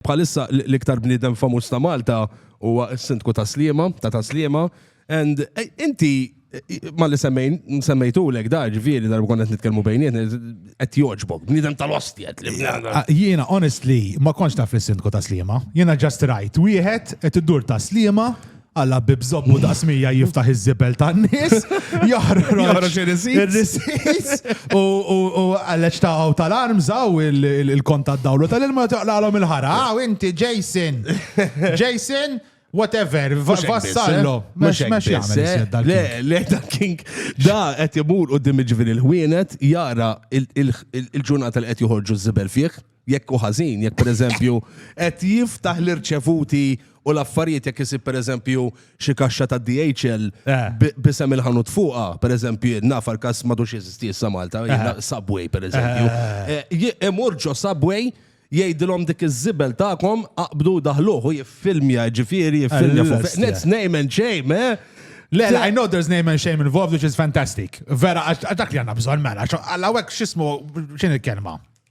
Bħalissa l-iktar bniedem famuż ta' Malta huwa s-Sindku ta' Sliema, ta' ta' Sliema, and inti malli semmejn, semmejtulek da ġifieri darba konna qed nitkellmu bejnietna, qed jogħġbok, bniedem tal-ostja. Jiena honestly ma kontx naf lis-Sindku ta' Sliema. Jiena just rajt wieħed qed idur ta' Sliema Alla bib zobbu daqs mija jiftaħ iż-żibel tan-nies, joħroġ ir-risis u għalleċ ta' għaw tal-arm zaw il-kont tad-dawlu tal-ilma toqlalhom il-ħara. Għaw inti Jason! Jason! whatever, vassallo. Mux mux jgħamil. Le, le, da kink, da għet jimur u dimmi ġviri l-ħwienet, jara il-ġurnata li għet juħorġu z-zibel fieħ. Jekk hu ħażin, jekk pereżempju qed jiftaħ l-irċevuti u l-affarijiet jekk isib pereżempju xi kaxxa ta' DHL b'isem il-ħanut fuqha, pereżempju jien naf għal każ m'għadux jeżisti issa Malta, Subway pereżempju. Imur ġo Subway jgħidilhom dik iż-żibel tagħkom aqbdu daħluh u jiffilmja ġifieri jiffilmja fuq That's name and shame, eh? Le, I know there's name and shame involved which is fantastic. Vera, dak li għandna bżonn mela, għal hawnhekk x'ismu x'in il-kelma?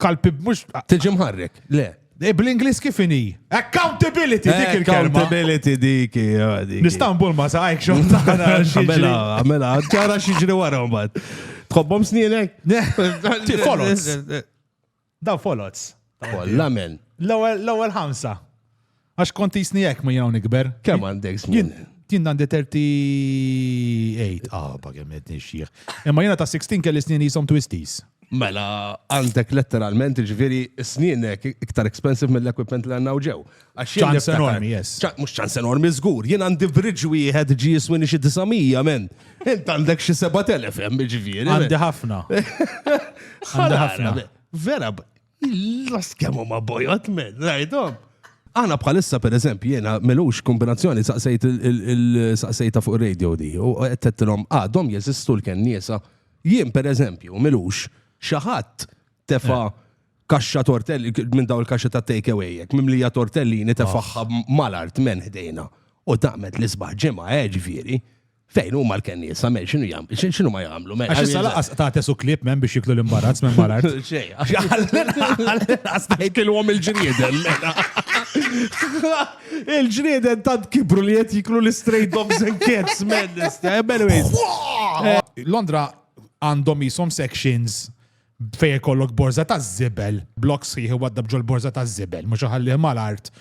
kalpi mhux. Tiġi mħarrek, le. Eh, Bl-Inglis kif inhi? Accountability dik il-kelma. Accountability dik. eh, dik. Nistanbul ma saqajk xo tagħna xi ġri. Għamela, għamela, ġara xieġri wara mbagħad. Tħobbhom snienek? Ti foloz. Da foloz. Kolla men. L-ewwel l-ewwel ħamsa. Għax kont jisni hekk ma jgħu nikber. Kemm għandek żmien? Jien għandi 38, ah, ba kemm qed nixjieħ. Imma jiena ta' 16 kelli snin jisom twisties. Mela, għandek letteralment ġviri snienek iktar expensive mill-equipment li għanna ġew. ċans enormi, yes. Mux ċans enormi, zgur. Jien għandi bridġ wieħed ġi jiswini xi 900, men. Int għandek xi 7000 hemm ġviri. Għandi ħafna. Għandi ħafna. Vera, Lost kemm huma bojot men, rajdhom. Għana bħalissa per eżempju jena melux kombinazzjoni saqsejt il-saqsejta fuq radio di u għettetlom għadhom ah, jeżistu l-kenniesa. Jien per eżempju melux xaħat tefa eh. kaxxa tortelli minn daw il-kaxxa ta' take away jek mimlija tortellini tefaħħa ah. mal-art men ħdejna u taqmet l-isbaħ ġimgħa eh, ġifieri. Fejn huma l-kennies, samel, xinu jam, xinu ma jamlu, mela. Għax issa laqas ta' tesu klib men biex jiklu l-imbarazz minn marat. Xej, għax għajkilwom il-ġrieden, mela. Il-ġrieden tant kibru li jett jiklu l-straight dogs and cats, men, nista, eh, anyways. Eh, Londra għandhom jisom sections Fejn ikollok borża taż-żibel, blokk sħiħ iwaddab ġol-borża taż-żibel, mhux iħallih mal-art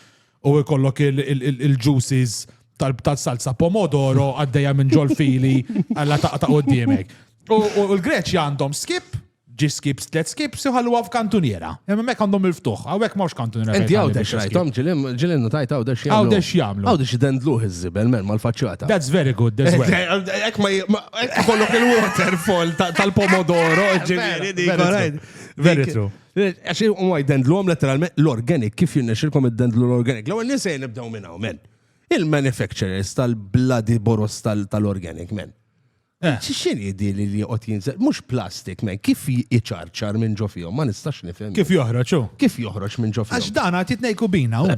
u jkollok il-juices tal-salsa pomodoro għaddejja minn ġol-fili alla taqta' quddiemek. U l-Greċja għandhom skip, ġi skip, tliet skips, iħalluha f'kantuniera. Imma mek għandhom il-ftuħ, hawnhekk m'hawnx kantuniera. Inti għawdex rajtom ġilim, ġilim notajt għawdex jagħmlu. Għawdex jagħmlu. Għawdex idendluh iż-żibel, men mal-faċċata. That's very good, that's well. Ek ma Kollok il-waterfall tal-pomodoro, ġiviri di. Very true. Għax u għaj dendlu għom letteralment l-organic, kif jinnexilkom id-dendlu l-organic. L-għu nisej nibdaw minn għaw, men. Il-manufacturers tal-bloody boros tal-organic, men. Eh. Xixin jidi li li għot jinżel, mux plastik, men, kif jċarċar minn ġofijom, ma nistax nifem. Kif joħroċu? Kif joħroċ minn ġofijom? Għax dan għat jitnejku bina, u.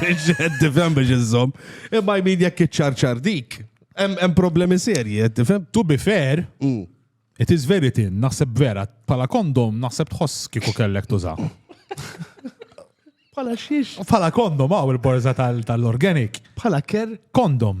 Biex tifhem biex iżżomm. Imma jmin jekk iċċarċar dik. Hemm problemi serji, qed tifhem? To be fair, mm. it is very thin, naħseb vera, pala kondom naħseb tħoss kieku kellek tuża. Pala xiex? Pala kondom, għaw il-borza tal-organic. Pala ker? Kondom.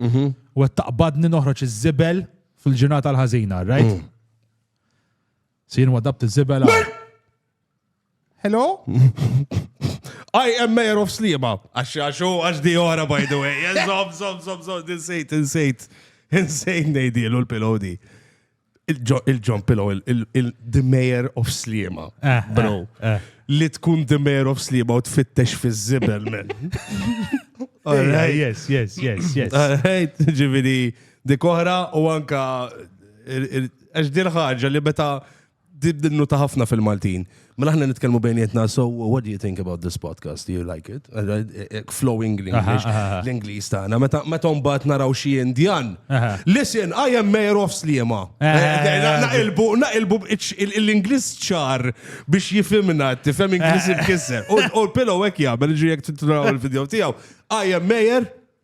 Mhm. U qed taqbadni noħroġ iż-żibel fil-ġurnata l-ħażina, right? Mm. Sir wadabt iż-żibel. għal- Hello? I am mayor of Slima. Għax għax u għax di ora, by the way. Zom, zom, zom, zom, insejt, insejt. Insejt nejdilu l-pilodi. il-John Pillow, il-The Mayor of Slima, eh, bro. Eh, eh. Li tkun The Mayor of Slima u tfittex fi zibel men. Yes, yes, yes, yes. Alright, ġivini, dik oħra u anka għax din ħaġa li meta dibdinnu ta' ħafna fil-Maltin. Mela ħna nitkellmu bejnietna, so what do you think about this podcast? Do you like it? Eh, eh, eh, flowing l-English, l-English tagħna. Meta meta mbagħad naraw xi Indjan. Listen, I am mayor of Sliema. Naqilbu naqilbu l-Ingliż ċar biex jifhimna tifhem Ingliż ibkisser. U l-pillow hekk jagħmel ġiek titraw il-video tiegħu. I am mayor